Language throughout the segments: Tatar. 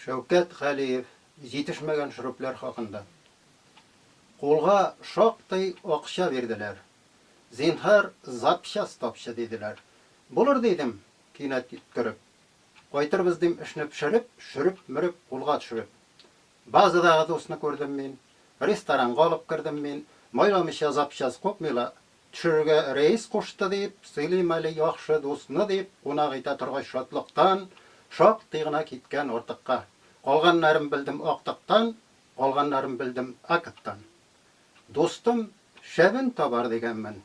Шәүкәт Галиев җитешмәгән шөрепләр хакында. Кулга шактый акча бирделәр. Зинһар, запчасть тапчы, диделәр. Булыр, дидем, кинәт йөткереп. Кайтырбыз, дим, эшне пешереп, шөреп-мөреп кулга төшереп. Базадагы дусны күрдем мин. Ресторанга алып кердем мин. Майламыйча запчасть купмыйлар, Төшерергә рәис кушты, дип сөйлим әле яхшы дусны, дип кунак итә торгач шатлыктан шактый гына киткән артыкка. Калганнарын белдем актыктан, калганнарын белдем акттан. Дустым шәбен табар дигәнмен,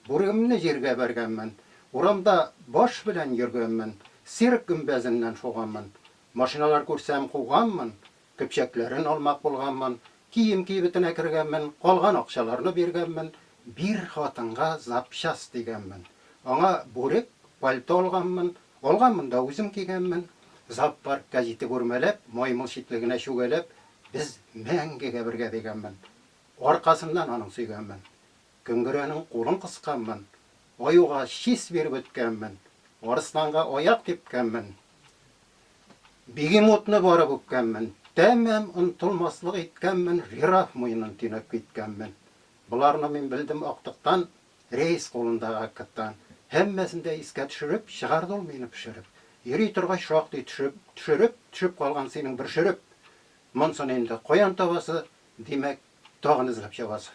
бүрегемне җиргә бәргәнмен, урамда баш белән йөргәнмен, цирк гөмбәзеннән шуганмын, машиналар күрсәм куганмын, Көпчәкләрен алмак булганмын, кием кибетенә кергәнмен, калган акчаларны биргәнмен, бир хатынга запчасть дигәнмен. Аңа бүрек, пальто алганмын, алганмын да үзем кигәнмен. Зоопарк гәҗите бүрмәләп, маймыл читлегенә чүгәләп, без мәңгегә бергә дигәнмен. Аркасыннан аның сөйгәнмен. Көнгерәнең кулын кысканмын. Аюга чис биреп үткәнмен. Арысланга аяк типкәнмен. Бегемотны барып үпкәнмен, Тәмам онтылмаслык иткәнмен, Жираф муенын төйнәп киткәнмен. Боларны мин белдем актыктан, Рәис кулындагы актыктан. Һәммәсен дә искә төшереп, Чыгарды ул мине пешереп. Йөри торгач шактый төшеп, Төшереп, төшеп калган синең бер шөреп. Монсын инде каян табасы, Димәк, тагын эзләп чабасы.